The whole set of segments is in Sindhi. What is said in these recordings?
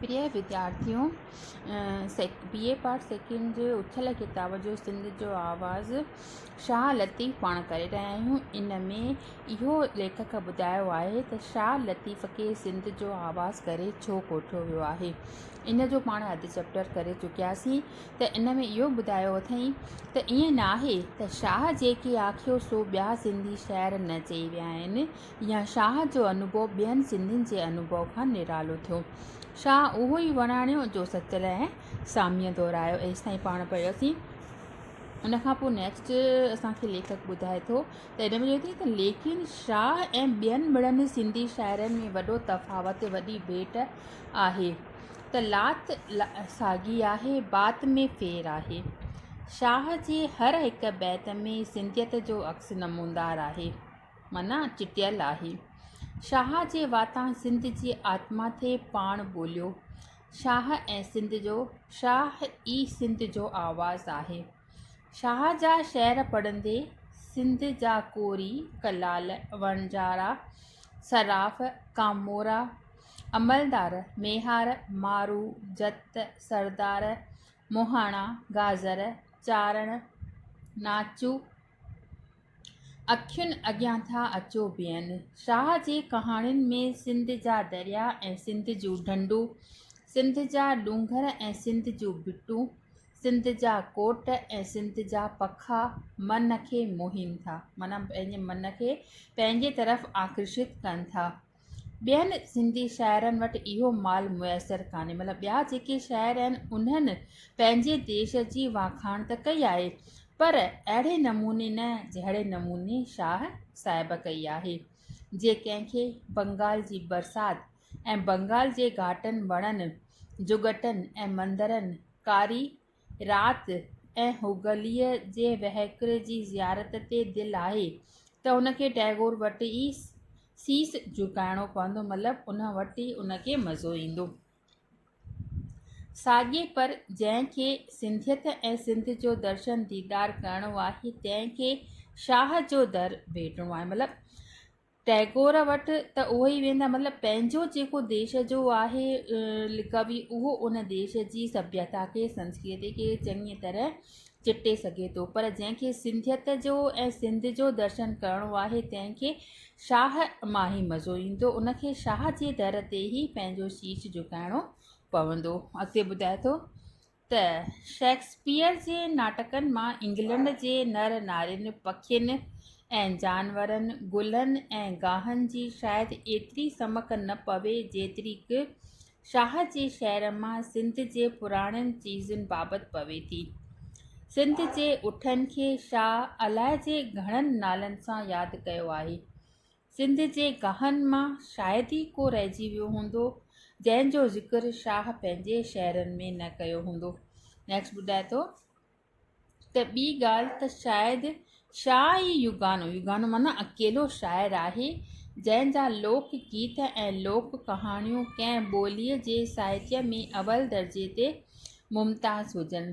پريا وديارٿيو بي اي پارٽ سيڪنڊ جي اٿيل ڪتاب جو سنڌ جو آواز شاهه لطيف پاڻ ڪري رهيا آهيون ان ۾ اهو ليکڪ ٻڌايو آهي ته شاهه لطيف کي سنڌ جو آواز ڪري ڇو ڪوٺيو ويو آهي ان جو پاڻ اڌ چيپٽر ڪري چڪياسين ته ان ۾ اهو ٻڌايو اٿئي ته ائين ناهي ته شاهه جيڪي آکيو سو ٻيا سنڌي شاعر نه چئي ويا آهن يا شاهه جو انوڀو ٻين سنڌين جي انوڀو کان نرالو ٿيو. شاهه اهو ئي وراڻيو جو سچل ۽ ساميء دهرايو. ايستائين پاڻ پڙهيوسين. ان کان پوء نيڪسٽ اسان کي ليکڪ ٻڌائي ٿو ته هن ۾ چوي ٿي ته ليڪن شاهه ۽ ٻين مڙن سنڌي شاعرن ۾ وڏو تفاوت وڏي ڀيٽ آهي ته لات ساڳي آهي بات ۾ ڦير آهي. شاهه جي هر هڪ بيت ۾ سنڌيت جو عڪس نموندار آهي. معنيٰ چٽيل آهي. شاهه جي واتان سنڌ جي آتما ٿي پاڻ ٻوليو. شاهه ۽ سنڌ جو شاهه ئي سنڌ جو آواز آهي. شاهه جا شعر پڙهندي سنڌ جا ڪوري، ڪلال، وڻجارا، صراف، ڪامورا، عملدار، ميهار، مارو، جت، سردار، مهاڻا، گازر، چارڻ، ناچو، اکين اڳيان ٿا اچو بيهن. شاهه جي ڪهاڻين ۾ سنڌ جا دريا ۽ سنڌ جون ڍنڍون، سنڌ جا ڏونگر ۽ سنڌ جون ڀٽون، سنڌ جا ڪوٽ ۽ سنڌ جا پکا من کي موهين ٿا معنيٰ پنهنجي من کي پنهنجي طرف آڪرشت ڪن ٿا. ٻين سنڌي شاعرن وٽ اهو مال ميسر ڪانهي مطلب ٻيا جيڪي شاعر آهن انهن پنهنجي ديش جي واکاڻ ته ڪئي آهي پر اهڙي نموني نه جهڙي نموني شاهه صاحب ڪئي آهي جي ڪنهن کي بنگال جي برسات ۽ بنگال جي گهاٽن وڻن جهڳٽن ۽ مندرن ڪاري رات ۽ هوگليء جي وهڪري جي زيارت تي دل آهي ته ان کي ٽئگور وٽ ئي سيس جهڪائڻو پوندو، مطلب ان وٽ ئي ان کي مزو ايندو. ساڳي پر جنهن کي سنڌيت ۽ سنڌ جو درشن ديدار ڪرڻو آهي، تنهن کي شاهه جو در ڀيٽڻو آهي، مطلب ٽئگور وٽ ته اهو ئي ويندا مطلب پنهنجو جيڪو ديش جو آهي لقبي اهو ان ديش جي سڀيتا کي سنسڪرتي کي چڱي طرح چٽي سگهي ٿو پر جنهن کي سنڌيت جو ۽ سنڌ جو درشن ڪرڻو آهي تنهن کي شاهه مان ئي مزو ايندو ان کي شاهه جي در تي ئي پنهنجو شيش جهڪائڻو پوندو اڳتي ٻڌائي ٿو ته شيڪسپيئر جي ناٽڪن مان انگلنڊ جي نر نارين، پکين ۽ جانورن، گلن ۽ گاهن جي شايد ايتري سمڪ نه پوي جيتريڪ شاهه جي شعر مان سنڌ جي پراڻين چيزن بابت پوي ٿي. سنڌ جي اٺن کي شاهه الائجي گهڻن نالن سان ياد ڪيو آهي. سنڌ جي گاهن مان شايد ئي ڪو رهجي ويو هوندو جنهن جو ذڪر شاهه پنهنجي شعرن ۾ نه ڪيو هوندو. نيڪسٽ ٻڌائي ٿو ته ٻي ڳالهه ته شايد شاهه ئي يگانو، يگانو معنيٰ اڪيلو شاعر آهي جنهن جا لوڪ گيت ۽ لوڪ ڪهاڻيون ڪنهن ٻوليء جي ساهتيه ۾ اول درجي تي ممتاز هجن.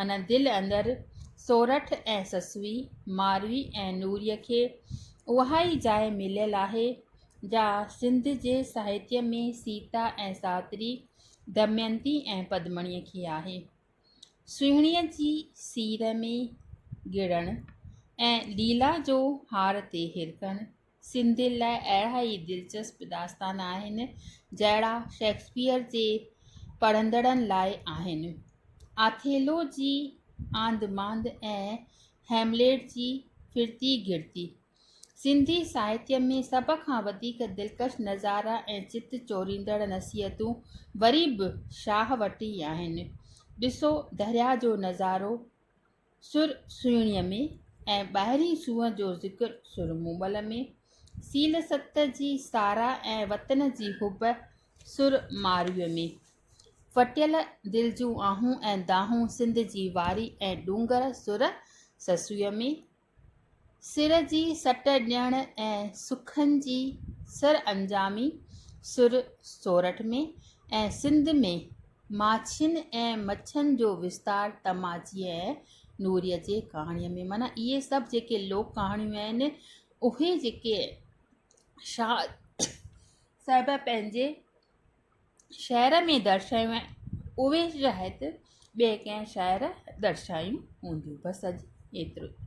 من دل اندر سورٺ ۽ سسوي، ماروي ۽ نوريء کي اها ئي جاء مليل آهي، جا سنڌ جي ساهتيه ۾ سيتا ۽ ساوتري، دمينتي ۽ پدمڻيء کي آهي. سهڻيء جي سير ۾ گڙڻ ۽ ليلا جو هار تي هرکڻ، سنڌين لاء اهڙا ئي دلچسپ داستان آهن، جهڙا شيڪسپيئر جي پڙهندڙن لاء آهن. آٿيلو جي آنڌ مانڌ ۽ هيمليٽ جي ڦرتي گهرتي، سنڌي ساهتيه ۾ سڀ کان وڌيڪ دلڪش نظارا ۽ چت چوريندڙ نصيحتون وري به شاهه وٽ ئي آهن. ڏسو درياهه جو نظارو، سر سهڻيء ۾ ۽ ٻاهرين سونهن جو ذڪر سر مومل ۾، سيل ست جي ساراهه ۽ وطن جي حب سر مارويء ۾، ڦٽيل دل جون آهون ۽ دانهون سنڌ جي واري ۽ ڏونگر سر سسويء ۾، سر جي سٽ ڏيڻ ۽ سکن جي سرانجامي سر سورٺ ۾ ۽ سنڌ ۾ ماڇين ۽ مڇن جو وستار تماچيء ۽ نوريء جي ڪهاڻيء ۾ معنيٰ اهي سڀ جيڪي لوڪ ڪهاڻيون آهن اهي جيڪي شاهه صاحب پنهنجي شعر ۾ درشايون آهن اهي شايد ٻئي ڪنهن شاعر درشايون هونديون بس اڄ ايترو ئي